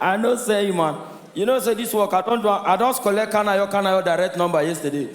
I no sell you man, you know say this work I don do am, I just collect kanayo kanayo direct number yesterday.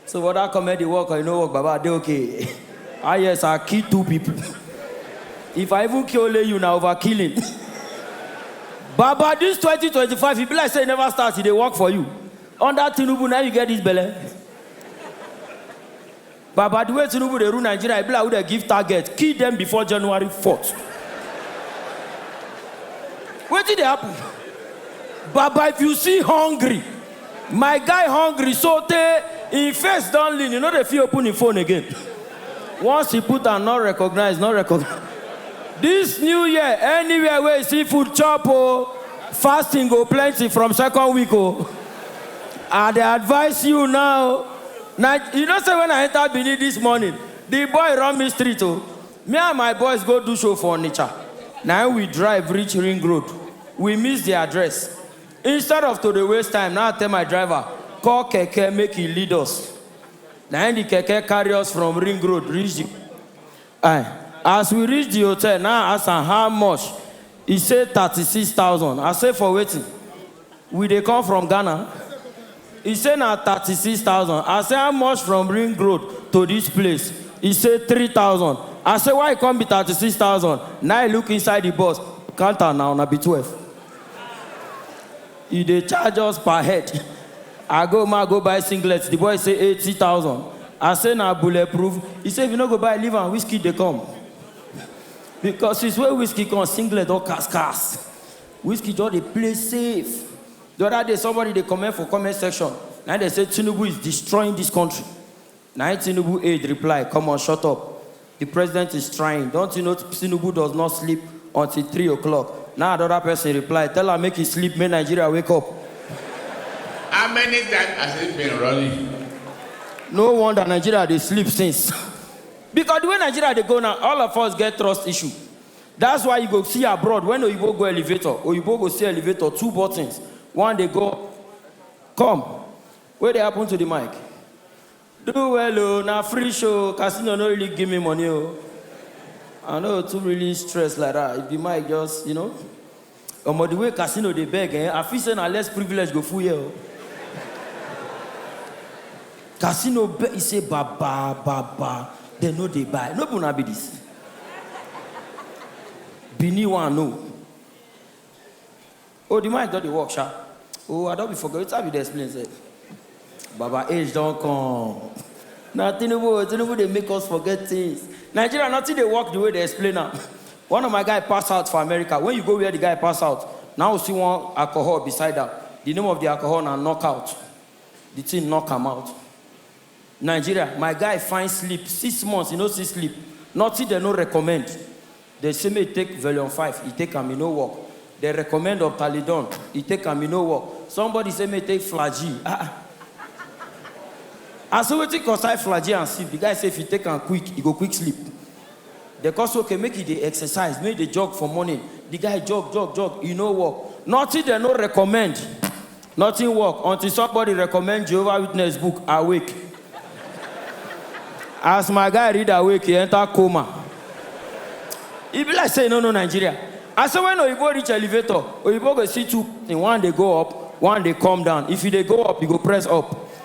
So for that comedy work or you no work baba I dey okay. Ah yes I kill two people. If I even kill only you na overkilling. Baba this 2025 e be like say e never start e dey work for you. Under Tinubu na you get this belle. Baba the way Tinubu dey rule Nigeria e be like who dem give target kill dem before January fourth Wetin dey happen? Baba if you see hungry my guy hungry so tey im face don lean e no dey fit open im phone again once e put am not recognized not recognized This new year anywhere wey you see food chop o fasting go plenty from second week o I dey advice you now Na you know say when I enter Benin this morning the boy run me street o me and my boys go do show for Onitsha na im we drive reach ring road we miss the address instead of to dey waste time na I tell my driver call keke make e lead us na im the keke carry us from ring road reach the I as we reach the hotel na I ask am how much e say thirty six thousand I say for wetin? We dey come from Ghana. E say na thirty six thousand. I say how much from ring road to dis place? E say three thousand. I say why e come be thirty six thousand? Na e look inside di bus, count am na, una be twelve. E dey charge us per head. I go ma go buy singlet, di boy say eighty thousand. I say na bullet proof? E say if you no go buy leave am, Wizkid dey come. Because since wey Wizkid come, singlet don cast cast. Wizkid just dey play safe. The other day somebody dey comment for comment section na im dem say Tinubu is destroying this country na im Tinubu aide reply come on shut up the president is trying don't you know Tinubu does not sleep until three o'clock na another person reply tell am make he sleep make Nigeria wake up. How many times has he been running? No wonder Nigeria dey sleep since because the way Nigeria dey go now all of us get trust issue. That's why you go see abroad when oyibo go elevator, oyibo go see elevator two buttons one dey go up and one dey come down. Come wey dey happen to the mic? Do well o na free show casino no really give me money o. I no too really stress like that if the mic just you know. Omo the way casino dey beg ehn I feel say na less privilege go full here o Casino beg e say baba baba dem no dey buy no be una be this Benin one no Oh the mic don dey work sha oh I don be forget wetin I be dey explain sef Baba age don come. Na Tinubu o, Tinubu dey make us forget things. Nigeria nothing dey work the way dey explain am. One of my guy pass out for America, when you go where the guy pass out, na him you see one alcohol beside am, the name of the alcohol na knock out. The thing knock am out. Nigeria, my guy find sleep six months he no see sleep, nothing dem no recommend. Dem say make e take Velion five, e take am, e no work. Dem recommend Opthalidon, e take am, e no work. Somebody say make e take Flagyl, ah ah. I say wetin concern Flagyl and sleep, the guy say if e take am quick, e go quick sleep. Dem come say okay make e dey exercise, make e dey jog for morning. The guy jog, jog, jog, e no work. Nothing dem no recommend. Nothing work until somebody recommend Jehovah Witness book Awake! As my guy read Awake! e enter coma. E be like say e no know Nigeria. I say when oyibo reach elevator, oyibo go see two thing, one dey go up, one dey come down. If you dey go up, you go press up.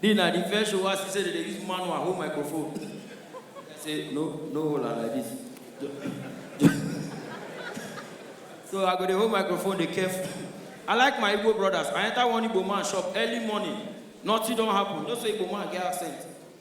Then na the first show I see say they dey use manual hold microphone. I say no, no hold am like this. so I go dey hold microphone dey careful. I like my Igbo brothers. I enter one Igbo man shop early morning. Nothing don happen. No say Igbo man get accent.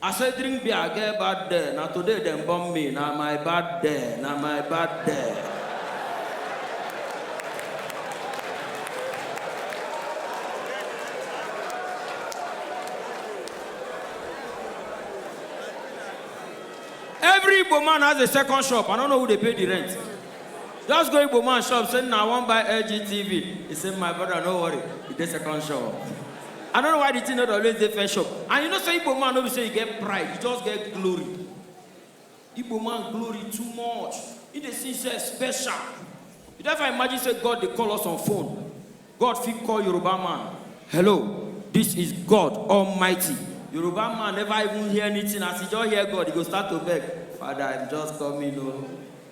I say drink beer I get bad dare na today dem born me na my bad dare na my bad dare. Every Igbo man has a second shop. I don't know who they pay the rent. Just go Igbo man shop, say, now I want buy LG TV. He said, my brother, no worry. It's the second shop. I no know why the thing no dey always dey first shop and you know say Igbo man no be say he get pride he just get glory Igbo man glory too much he dey see himself special you don ever imagine say God dey call us on phone God fit call Yoruba man hello this is God almighty Yoruba man never even hear anything as he just hear God he go start to beg father I'm just coming o.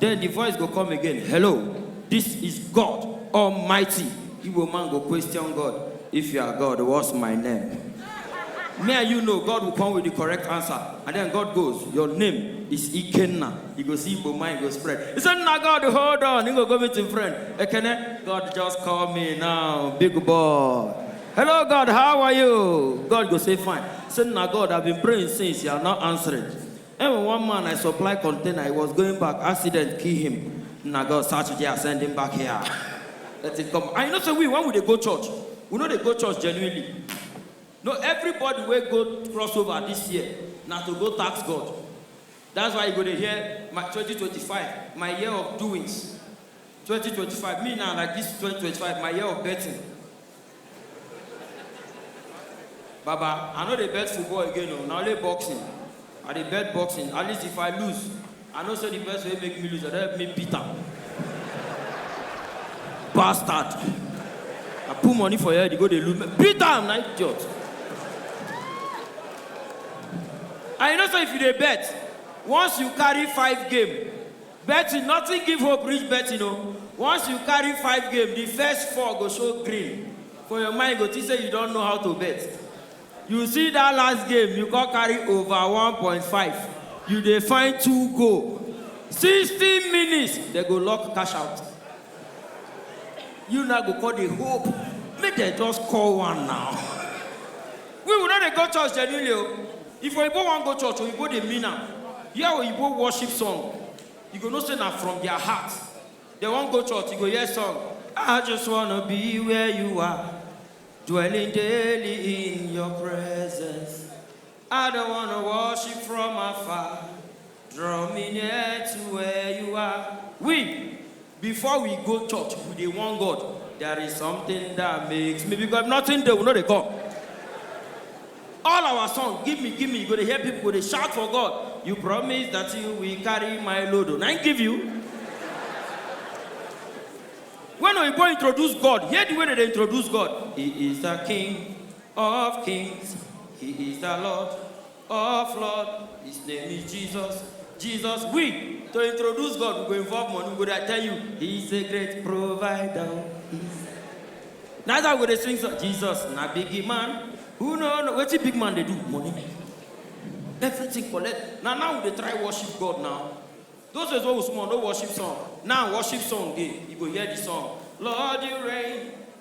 Den di voice go come again, Hello, dis is God Almighty. Igbo man go question God, If you are God, what's my name? Me and you know God will come with di correct answer. And den God goes, Your name is Ikenna. You go see Igbo mind go spread. He say, Nna God, hold on. He go go meet im friend. Ekene, God just call me now, big boy. Hello God, how are you? God go say, Fine. He say, Nna God, I been praying since, you are not answering. Ewen one man I supply container he was going back accident kill him na God search dia send him back here let him come and you know say we when we dey go church we no dey go church genuinely no everybody wey go cross over this year na to go tax God that's why you go dey hear my 2025 my year of doings 2025 me na like this 2025 my year of betting. Baba, I no dey bet football again o, na only boxing I dey bet boxing, at least if I lose, I know say the person wey make me lose, dem don help me beat am. Bastard! I put money for your head, you go dey look me, beat am na idiot! And you know say if you dey bet, once you carry five game, Betting nothing give hope reach betting o once you carry five game the first four go show green for your mind you go think say you don know how to bet you see that last game you come carry over one point five you dey find two goal sixty minutes dem go lock cash out. you now go call the hope make dem just call one now we will not dey go church genuinely o if oyibo wan go church oyibo dey mean am hear oyibo worship song you go know say na from their heart dem wan go church you go hear song i just wanna be where you are dwelling daily in your presence. I don't wanna worship from afar, draw me near to where you are. We, before we go church, we dey warn God. There is something that makes me because if nothing dey, we no dey come. All our song, give me, give me, you go dey hear people go dey shout for God. You promise that you will carry my load. oh. Na him give you. When Oyibo introduce God, hear the way they dey introduce God. He is the king Of kings, he is the lord of lord, his name is Jesus, Jesus we to introduce God we go involve money we go dey tell you he is a great provider. Na that we dey sing so Jesus na big man who no know wetin big man dey do money everything collect na now we dey try worship God now those days wey we small no worship song now worship song dey you go hear the song Lord you reign